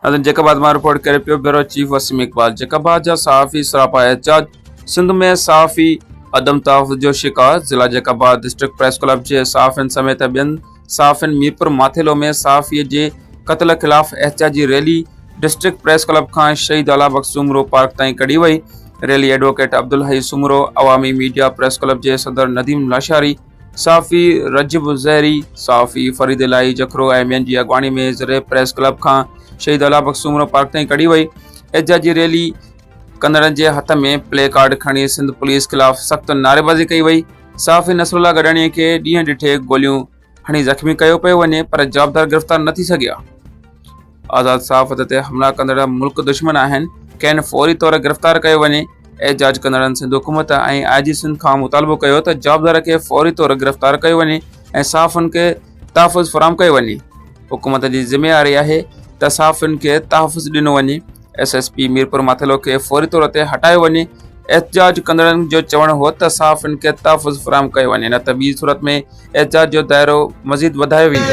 ناظرين جيڪب آباد مان رپورٽ ڪري پيو bureau chief Waseem Iqbal Jacobabad جا صحافي سراپا احتجاج سنڌ ۾ صحافي عدم تحفظ جو شڪار ضلع Jacobabad district press club جي صحافين سميت ٻين صحافين ميرپور ماٿيلو ۾ صحافي جي قتل خلاف احتجاجي ريلي ڊسٽرڪٽ پريس ڪلب کان شهيد اعليٰ بخش سومرو پارڪ تائين ڪڍي وئي rally advocate Abdul Hai Soomro Awami media press club جي صدر نديم لاشاري صحافي رجب زهري، صحافي فريد الاهي جکرو ۽ ٻين جي اڳواڻي ۾ زريب پريس ڪلب کان شهيد الله بخش سومرو پارڪ تائين ڪڍي وئي. احتجاجي ريلي ڪندڙن جي هٿ ۾ پلي ڪارڊ کڻي سنڌ پوليس خلاف سخت نعريبازي ڪئي وئي. صحافي نصر الله گڏاڻي کي ڏينهن ڏٺي گوليون هڻي زخمي ڪيو پيو وڃي پر جوابدار گرفتار نه ٿي سگهيا. آزاد صحافت تي حملا ڪندڙ ملڪ دشمن آهن، کين فوري طور گرفتار ڪيو وڃي، احتجاج ڪندڙن سنڌ حڪومت ۽ آء جي سنڌ کان مطالبو ڪيو ته جوابدار کي فوري طور گرفتار ڪيو وڃي ۽ صحافين کي تحفظ فراهم ڪيو وڃي، حڪومت جي ذميواري آهي ته صحافين کي تحفظ ڏنو وڃي، S S P Mirpur Mathelo کي فوري طور تي هٽايو وڃي، احتجاج ڪندڙن جو چوڻ هو ته صحافين کي تحفظ فراهم ڪيو وڃي نه ته ٻي صورت ۾ اعزاز جو دائرو مزيد وڌايو ويندو